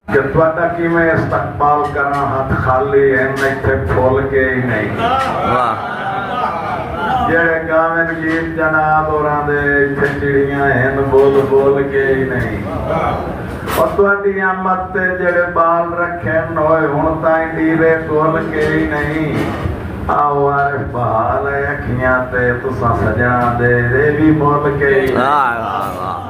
کہ تہاڈا کیویں استقبال کراں ہتھ خالی ہن ایتھے پھل کے ای نئیں جیہڑے گاون گیت جناب ہوراں دے ایتھے چڑیاں ہن بول بول کے ای نئیں او تہاڈی آمد تے جیہڑے بال رکھن اوئے ہن تائیں ڈیرے گول کے ای نئیں آو عارف بحال اے اکھیاں تے تساں سجناں دے ایہ وی مول کے ای نئیں۔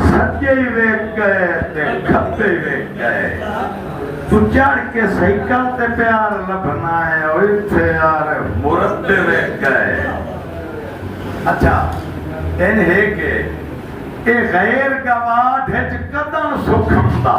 سجے ویکھ گئے تے کھبے ویکھ گئے توں چڑھ کے سائیکل تے پیار لبھنا ہے او ایتھے یار مربے ویکھ گئے اچھا این ہے کہ اے غیر گواہ ہچ کدن سکھم دا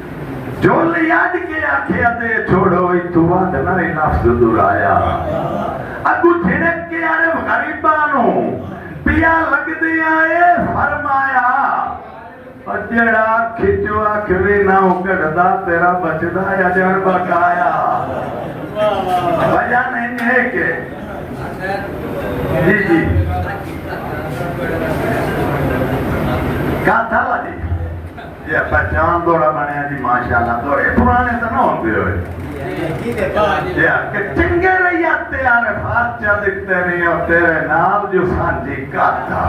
جھولی اڈ کے آکھیا دے چھوڑو اتھوں ودھ نہ اے لفظ دہرایا اگوں جھڑک کے عرب غریباں نوں پیا لگدیاں اے فرمایا او جیڑھا اکھ اچوں اکھ وی نہ ہوں کڈھدا تیرا بچدا یا ڄݨ بقایا وجہ نہ انج ہے کہ جی جی کاتھا والی جے اساں جان دوڑا بنیا جی ماشاءاللہ دوڑے پرانے تاں نہ ہوندے ہوئے جے آکھے چنگے رہیا تے عارفات چا دیتے نہیں اور تیرے نال جو سانجی کاتا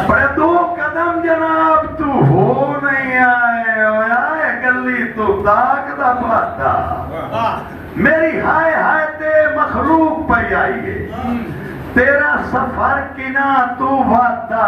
پر دو قدم جناب تو ہو نہیں آئے ہویا اے گلی تو تاک دا پاتا میری ہائے ہائے تے مخلوق پہ آئیے تیرا سفر کنا تو واتا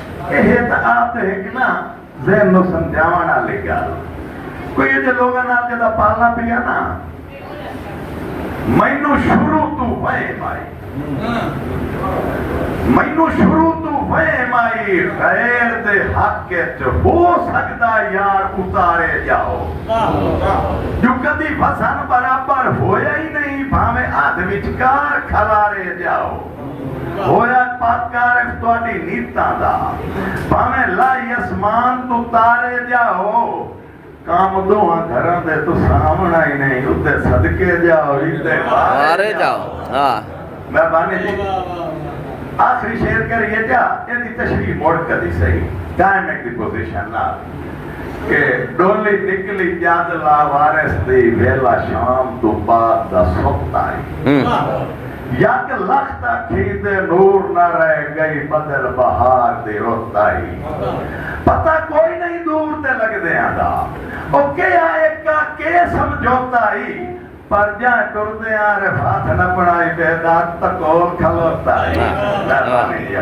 ایہے تاں آپ تے ہک نہ ذہن نوں سمجھاوݨ آلی ڳالھ کوئی اجھے لوگاں نال جݙاں پالݨا پیا نہ مینوں شروع توں وہم آئی مینوں شروع توں وہم آئی غیر دے حق اچ ہو سڳدا یار اتارے ڄاؤ جو کدی وزن برابر ہویا ہی نہیں بھانویں ادھ وچکار کھلارے ڄاؤ۔ ہویا پک عارف تہاڈی نیتاں دا بھانویں لائی اسمان توں تارے جاؤ کام دوہاں گھراں دے توں ساونڑاں ہی نہیں اتے صدقے جاؤ اتے وارے جاؤ میں بانی جی آخری شعر کریے جا یہ دی تشریح موڑ کدی صحیح ٹائم ایک دی پوزیشن نہ کہ ڈولی نکلی جاد لا وارس دی ویلا شام تو بعد دا سوتا ہی یک لخ دا کھیتے نور نہ رہ گئی بدل بہار دی رت آئی پتہ کوئی نہیں دور تے لگدیاں دا او کے آ ایکا کے سمجھوتا ای پر جاں ٹردیاں رفات نہ پڑھائی بے داد تکول کھلوتا ای